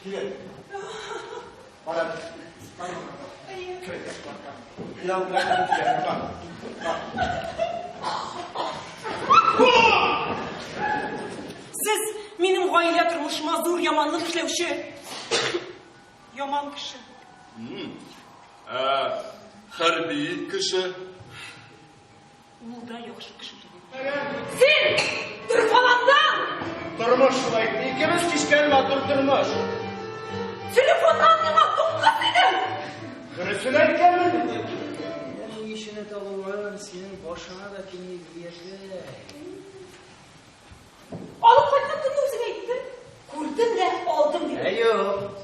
Килен. Барам. Барам. Кирәк барам. Кирәк барам. Кирәк барам. Сез минем гаилә тормышыма зур яманлык эшләүче яман кеше. Хәрби кеше Ул да яхшы кеше түгел. Син дөрфаландан! Тормыш шулай. Икебез кичкән матур тормыш. Телефоннан миңа туңгыз идем. Хөресен әйткәнмен. Ул ишене табылган, синең башыңа да тими диясе. Алып кайткан көнне үзең әйттең. Күрдем дә алдым дип. Ә юк.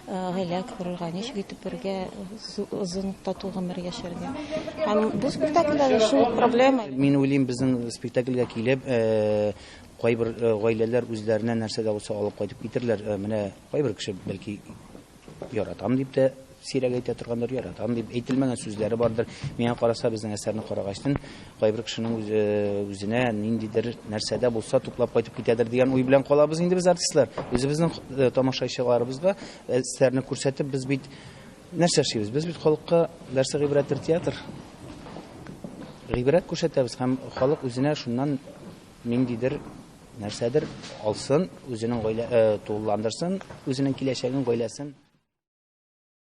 гаилә корырга, ничек итеп бергә озын тату гомер яшәргә. Һәм бу спектакльдә дә шул проблема. Мин уйлыйм, безнең спектакльгә килеп, э, кайбер э, гаиләләр үзләренә нәрсә дә булса алып кайтып китерләр. Э, менә кайбер кеше бәлки яратам дип тә сирәк әйтә торгандыр, яратам дип әйтелмәгән сүзләре бардыр. Миңа караса, безнең әсәрне карагачтын, Кайбер кешенең үзе, үзенә ниндидер нәрсә дә булса туплап кайтып китәдер дигән уй белән калабыз инде без артистлар. Үзебезнең э, тамашачыларыбызга әсәрне күрсәтеп без бит нәрсә эшлибез? Без бит халыкка нәрсә гыйбрәттер театр. Гыйбрәт күрсәтәбез һәм халык үзенә шуннан ниндидер нәрсәдер алсын, үзенең гаилә э, тулыландырсын, үзенең киләчәген, гаиләсен.